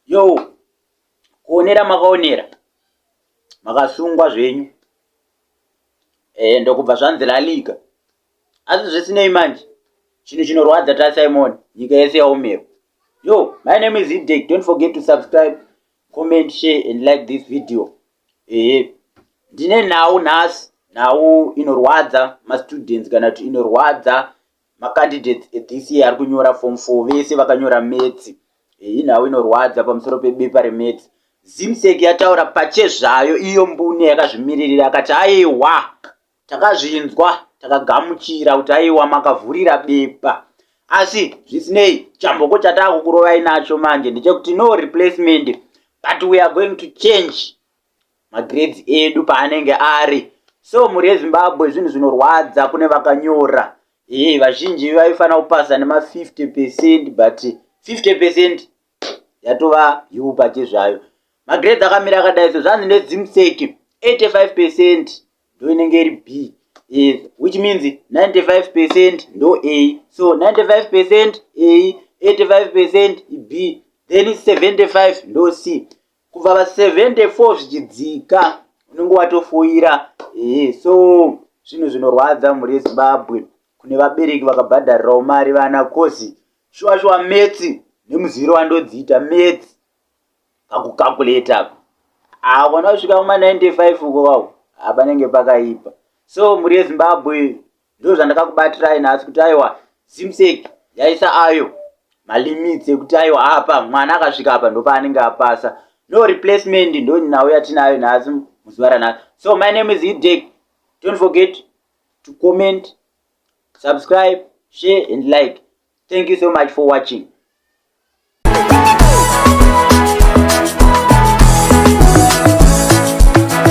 yo kuonera makaonera makasungwa zvenyu eh, ndokubva zvanzi laliga asi zvisinei manje chinhu chinorwadza tasimon nyika yese yaomerwa yo my name is idek don't forget to subscribe comment share and like this video ehe ndine nhau nhasi nhau inorwadza mastudents kana kuti inorwadza Macandidates ethis year ari kunyora form 4 vese vakanyora metsi. Iyi nhau inorwadza pamusoro pebepa remetsi. Zimsec yataura pachezvayo iyo mbune yakazvimiririra akati aiwa takazvinzwa takagamuchira kuti aiwa makavhurira bepa. Asi zvisinei chamboko chataakukurovai nacho manje ndechekuti no replacement but we are going to change magrades edu paanenge ari so mhuri yezimbabwe zvinhu zvinorwadza kune vakanyora hee vazhinji vaifanira kupasa nema50 percent but 50 percent yatova yupa chezvayo magrades akamira akadai so zvanzi nedzimseki 85 percent ndo inenge iri b is which means 95 percent ndo a so 95 percent a 85 percent b then 75 ndo c kubva pa 74 zvichidzika unenge watofoira ehe so zvinhu zvinorwadza mhuri yezimbabwe kune vabereki vakabhadharirawo mari vana kozi shuwa shuwa metsi nemuziviro wandodziita metsi pakukakuleta apa havana kusvika kuma 95 uko vavo hapanenge pakaipa so mhuri yezimbabwe ndo zvandakakubatirai nhasi kuti aiwa zimsek yaisa ayo malimits ekuti aiwa apa mwana akasvika apa ndopaanenge apasa no replacement ndo nhau yatinayo nhasi muzuva ranhasi so my name is idek don't forget to comment subscribe share and like thank you so much for watching